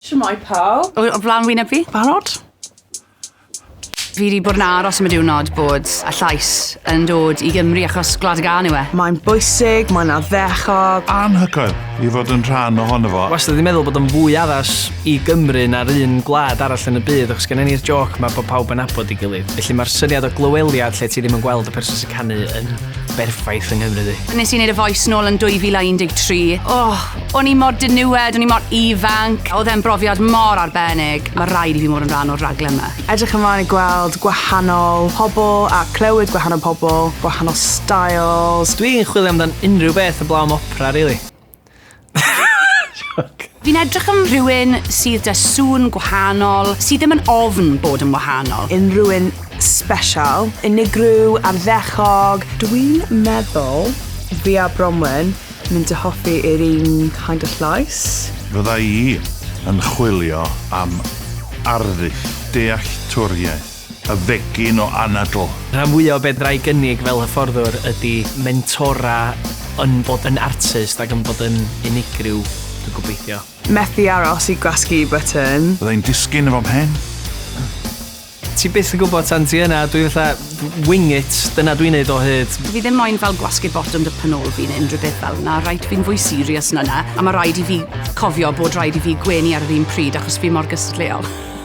Shwmae pawb. O, o flan wyneb fi. Barod? Fi wedi bod yn aros am y diwrnod bod y llais yn dod i Gymru achos Gwlad y Gân yw e. Mae'n bwysig, mae'n addechog. Anhygoel i fod yn rhan ohono fo. Wastad wedi meddwl bod o'n fwy addas i Gymru na'r un gwlad arall yn y byd achos gennym ni'r jôc 'ma bod pawb yn nabod ei gilydd. Felly mae'r syniad o glyweliad lle ti ddim yn gweld y person sy'n canu yn berffaith yng Nghymru ddi. Nes i neud y voice nôl yn 2013. Oh, o'n i mor diniwed, o'n i mor ifanc. Oedd e'n brofiad mor arbennig. Mae rhaid i fi mod yn rhan o'r raglen yma. Edrych ymlaen i gweld gwahanol pobl a clywed gwahanol pobl, gwahanol styles. Dwi'n chwilio amdan unrhyw beth heblaw am opera rili. Fi'n edrych am rhywun sydd 'da sŵn gwahanol, sydd ddim yn ofn bod yn wahanol. Unrhyw un special, unigryw, arddechog. Dwi'n meddwl fi a Bronwen mynd i hoffi yr un kind of llais. Fydda i yn chwilio am arddull dealltwriaeth. Y fegin o anadl. Rhan fwya o be fedra i gynnig fel hyfforddwr ydi mentora yn bod yn artist ac yn bod yn unigryw, dwi'n gobeithio. Methu aros i gwasgu button. Fydda i'n disgyn efo mhen. Ti byth yn gwybod tan ti yna, dwi fatha wing it, dyna dwi'n neud o hyd. Dw i ddim moyn fel gwasgu botwm dy pen ôl fi neu unrhyw beth fel 'na, reit, fi'n fwy serious na 'na, a ma' raid i fi cofio bod raid i fi gwenu ar yr un pryd achos fi mor gystadleuol.